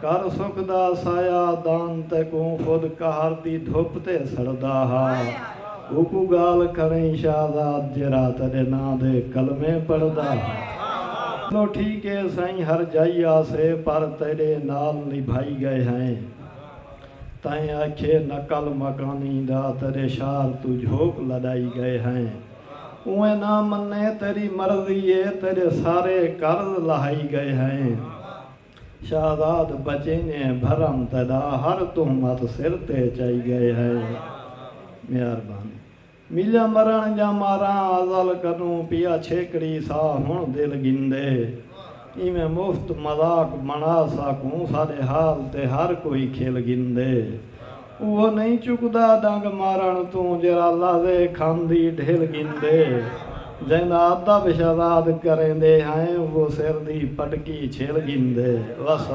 کر سکدا سایہ دان تیکوں خود قہر دی دھپ تے سڑدا ہا اوکوں گالھ کھڑئیں شہزاد جیرھا تیڈے ناں دے کلمے پڑھدا ہا۔ چلو ٹھیک اے سائیں ہر جائی آسے پر تیڈے نال نبھائی گئے ہئیں تائیں آکھیے نقل مکانی دا تیڈے شار توں جھوک لڈائی گئے ہئیں اوئیں نہ منے تیڈی مرضی اے تیڈے سارے قرض لہائی گئے ہئیں۔ شہزاد بچینگے بھرم تیڈا ہر تہمت سر تے چائی گئے ہئے مہربانی میلہ مرن جا ماراں ازل کنوں پیا چھیکڑی سا ہن دل گھندے ایویں مفت مذاق بنڑا ساکوں ساڈے حال تے ہر کوئی کھل گھندے۔ اوہو نئیں چکدا ڈنگ مارݨ توں جیرھا لہذے کھم دی ڈھل گھندے جیندا ادب شہزاد کریندے ہیں اوہو سر دی پٹکی چھل گھندے۔ وسلام۔